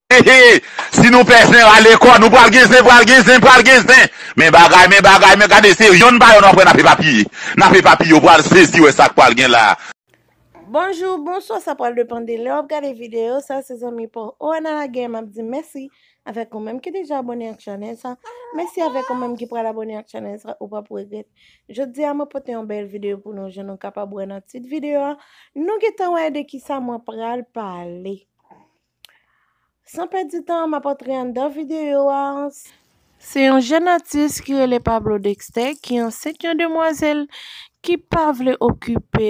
Hehe si nou pè zen rale kò nou pral gen zen pral gen zen pral gen zen men bagay men bagay men gade se yonn pa yonn aprè nap epapiye nap epapiye ou pral sezi wè sak pral gen la. Bonjou, bonswa sa pral depan de lè wap gade video sa se zanmi paw Oana Laguerre map di mèsi avèk ou menm ki deja abòne ak chanèl sa mèsi avèk ou menm ki pral abòne ak chanèl sa ou pap regrèt jodi a mwen pote yon bèl video pou nou jan nou kapab wè nan tit video a nou gentan wè de kisa mwen pral pale. San pèdi tan, m ap antre anndan videyo a. Se yon jèn atis ki rele Pablo Dexter ki ansent yon demwazèl ki pa vle okipe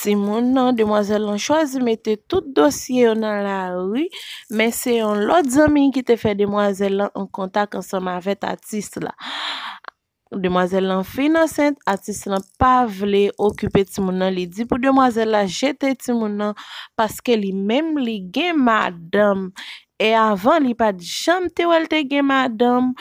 timoun nan. Demwazèl lan chwazi mete tout dosye yo nan lari, men se yon lòt zanmi ki te fè demwazèl lan an kontak ansanm avèk atis la. Demwazèl lan fin ansent, atis lan pa vle okipe timoun nan li di pou demwazèl la jete timoun nan paske li menm li gen madanm e avan li pat janm te wèl te gen madanm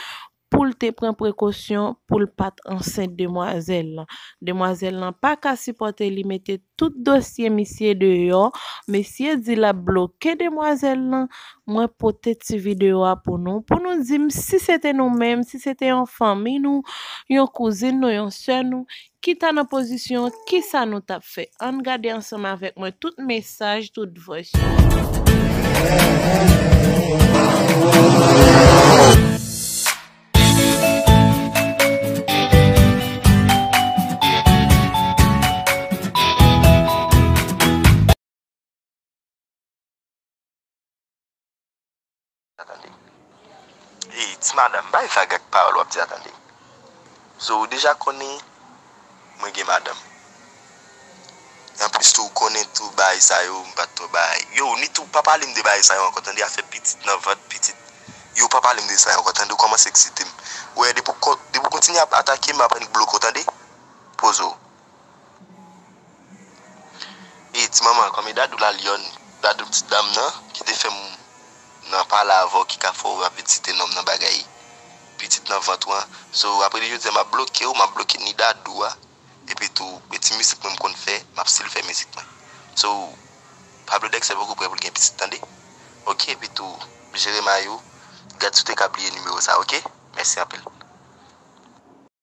poul te pran prekosyon poul pat ansent demwazèl lan. Demwazèl lan paka sipòte li mete Tout dosye misye deyò, mesye di lap bloke demwazèl lan, mwen pote ti video a pou nou, pou nou dim si se te nou menm, si se te yon fanmi nou, yon kouzin nou, yon sè nou, ki ta nan pozisyon, kisa nou tap fè? Ann gade ansanm avèk mwen tout mesaj, tout vòys yo. Hey ti madam bay vag ak pawòl wap di a tande Zo ou deja konnen Mwen gen madanm. Anplis tou ou konnen tou baay sa yo m pat twò bay. Yow Nit ou pa pale m de baay sa yo ankò tande afè pitit nan vant pitit yow pa pale m de sa yo ankò tande ou kòmanse eksite m wè depi w kontinye ap atake m ap annik bloke w tande Poze w. E ti manman kòm e dadou la lyòn dadou ti dam nan ki te fèm nan pale avèw ki ka fèw ap vin site nonm nan bagay pitit nan vant ou an so aprè li jodia map blokew map bloke ni dadou a epi tou e ti mizik mwen m konn fè map stil fè mizik mwen so pablo dexter poko prè poul gen pitit tande ok epi tou jere may ou gad si ou te ka bliye nimewo sa ok mèsi anpil.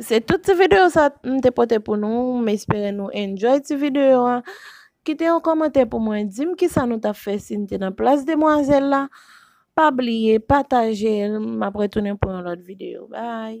Se tout ti video sa m te pote pou nou, m espere nou enjoy ti video a, kite yon komante pou mwen, di m ki sa nou tap fè si n te nan plas demwazèl la, pa bliye pataje l, m ap retounen pou yon lòt video, bye.